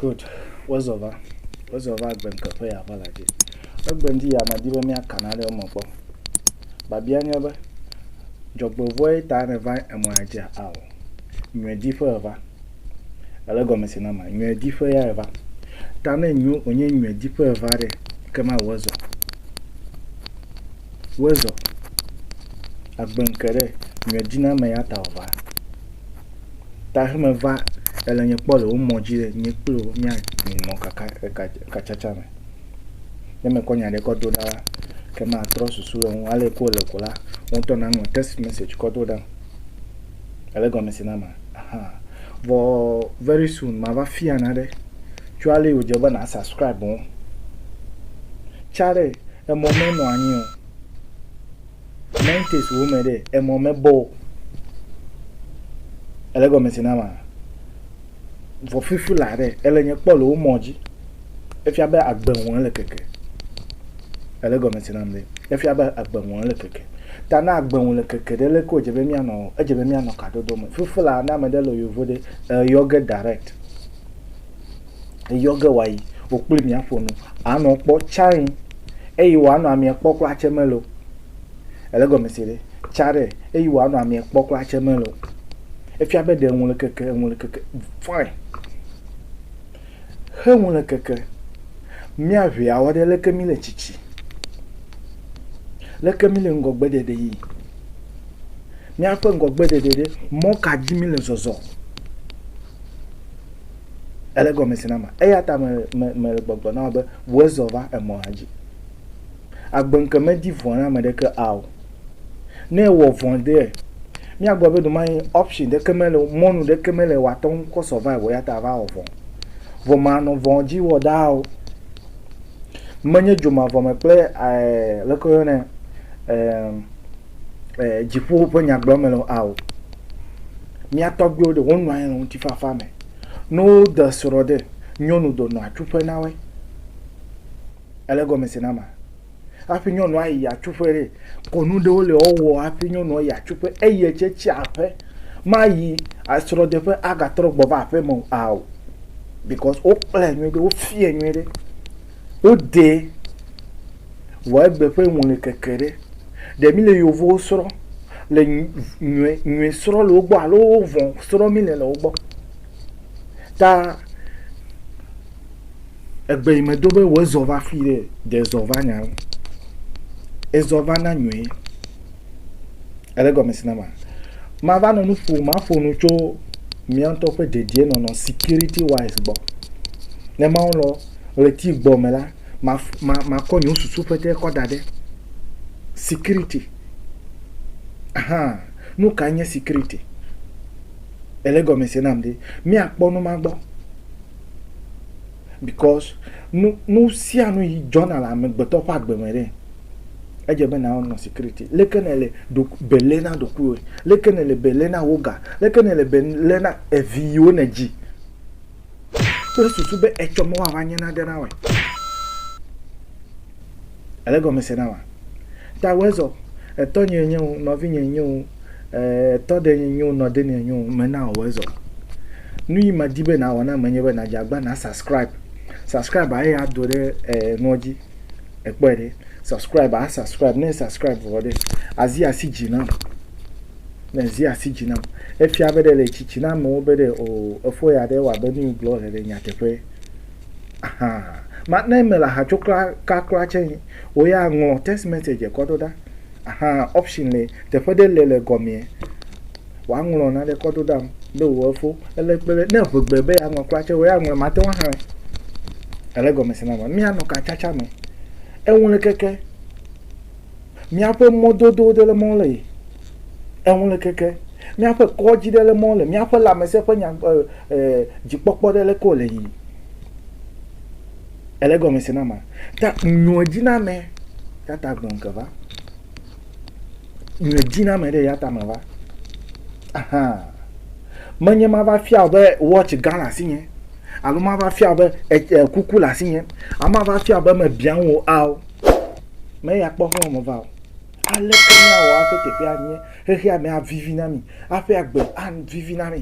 Good. Wozɔ va. Wozɔ va agbe ŋke ƒe ya ƒe la dzi. Egbe ŋdi ya medi be míaka na ɖe wo me kpɔ. Babia nye be, dzɔgbevɔe ta ne va emɔ ya dzia ao. Nyɔe di ƒe eva. Ele gɔme si na ma. Nyɔe di ƒe ya eva. Ta ne nyo onye nyɔe di ƒe eva ɖe, ke ma wozɔ. Wozɔ. Agbe ŋke ɖe, nyɔe di na me ya ta ova. ta he me va e le nye kpɔ le wo mɔ dzi le nye kple wo mia nɔ kaka eka katsatsa me ne me kɔ nya ɖe kɔ do ɖa la ke ma trɔ susu le ŋu ale ko le ko la wo tɔ na ŋɔ text message kɔ do ɖa ele gɔme si na ma aha vɔ very soon ma va fia na ɖe tso ale yo dze be na subscribe wo tsa ɖe emɔ me nɔ anyi o Mentes wo me ɖe emɔ me bɔ o. Ele gɔme se na ma. Vɔ fifi la ɖe ele nye kpɔ le wo mɔ dzi. Efia be agbe ŋu ele keke. Ele gɔme se na me. Efia be agbe ŋu ele keke. Ta na agbe ŋu le keke ɖe le ko dze be mia nɔ edze be mia nɔ kadodo me. Fifi la na me ɖe le yovo ɖe eyɔ ge direct. eyɔ ge wòayi, wò kple mi aƒo nu. Ànɔ kpɔ tsãe eye wòanɔ amea kpɔ kura tse mele o. Èle egɔme se ɖe? Tsa ɖe eye wòanɔ amea kpɔ kura tse mele o. Efia be ɖe ŋu le keke, ŋu le keke. Fine. Xe ŋu le keke. Míaʋe awɔ ɖe leke mi le tsitsi. Leke mi le ŋgɔgbe ɖeɖe yi. Míaƒe ŋgɔgbe ɖeɖe ɖe mɔ ka dzi mi le zɔzɔ. Ele gɔme se na ma. Eya ta me, me, mele gbɔgblɔ na wò be, ʋu ezɔ va emɔ la dzi. Agbeŋke medi vɔ̃ na ame ɖeke a o. Ne ewɔ vɔ̃ ɖe, míagblɔ be ɖomayi option ɖeke mele o, mɔnu ɖeke mele o wòate ŋu kɔ survive o, eya ta ava wɔ vɔ̃. Vɔ manɔ vɔ̃ dzi wɔ ɖaa o. Menye dzomavɔme kple, ɛɛ, leke woyɔnɛ, ɛɛ, eh, dziƒo ƒe nyagblɔ me le ao. Mía tɔgbuiwo ɖe wonɔ anyi le ŋutifafa me. Ne wode srɔ̃ ɖe, nyɔnu do nɔ atsuƒe na woe. Ele gɔme se na ma. Hafi nyɔnua yi atsuƒe ɖe, kɔnu ɖewo le wowɔ hafi nyɔnua yi atsuƒe eye tse tsi aƒe. Mayi asrɔ̃ɖeƒe agatrɔ gbɔ va aƒe me ao. Because wokplɛ nyuie ɖe, wofiɛ nyuie ɖe. Wodee vɔ egbe ƒe ŋɔlikeke ɖe. Ɖe míle yevuwo srɔ̃ le nyɔe nyɔe srɔ̃ le wo gbɔ alo vɔ̃ srɔ̃ míle le wo gbɔ. Ta egbe yi medo be wɔ ezɔ va fi ɖe ɖe ezɔ va nya wo. Ezɔ va na nyɔe. Ele gɔme si na ma. Mava nɔ nu ƒo maƒo nu tso mía ŋutɔ ƒe dedienɔnɔ security wise gbɔ. Ne Mawu lɔ ɣleti gbɔ me la, ma, ma, makɔ nye susu ƒe ɖe kɔ da ɖe. Security. Ahan. Nu ka nye security? Ele gɔme se nam ɖe. Míakpɔ nu ma gbɔ. Because nu, nu sia nu yi dzɔna le amegbetɔ ƒe agbe me ɖe. Edze be nawɔ nɔ security. Leke ne le ɖo, belé na ɖokuiwòe? Leke ne le belé na wò ga? Leke ne le belé na evi yiwo ne dzi? Wole susu be etsɔ mɔ wòava nye nane na woe. Èle gɔme se na wa? Ta wòe zɔ. Etɔnyee nye wo, nɔvinyee nye wo, etɔɖenyee nye wo, nɔdenee nye wo, mena wòe zɔ. Nu yi medi be nàwɔ na ame nye be nàdze agba na subscribe. Subscribe eye ado ɖe nuɔ dzi. Èkpɔe ɖe. Subscribe, a subscribe. Ne subscribe vɔ ɖe, azi asi dzi nam. ne zi asi dzi nam. Efia be ɖe le tsitsi na amewo be ɖe o efɔ ya ɖe wɔa be nu yi gblɔ wole le nyateƒe. Ahan. Ma ne mele aha tso kla ka kla tse yi wo ya ŋlɔ text message kɔ ɖo ɖa. Ahan option le teƒe ɖe le le gɔmea wa ŋlɔ na ɖe kɔ ɖo ɖam be wo efo ele kpe ɖe ne ŋe gbe be ya ŋlɔ kla tse wo ya ŋlɔ ma te wa hã. Ele gɔme se na ma mia nɔ ka tsatsa me. Eŋu le keke. Míaƒe mɔdodo ɖe le mɔ le yi eŋu le keke. Míaƒe kɔdzi ɖe le mɔ le míaƒe lãmesẽ ƒe nya e e dzikpɔkpɔ ɖe leke wòle yiyim. Ele egɔme se na ma. Ta nyɔedziname ya ta gbɔn ke va. Nyɔedziname ɖe ya ta me va. Ahan. Menye mava fia be watch gã le asinye alo mava fia be e, e kuku le asinye alo mava fia be mebiã ŋu wò ao. Meya akpɔ ƒe wɔme va o. Aleke míawɔ hafi teƒea anye? Xexea me avivi na mí. Hafi agbe avivi na mí.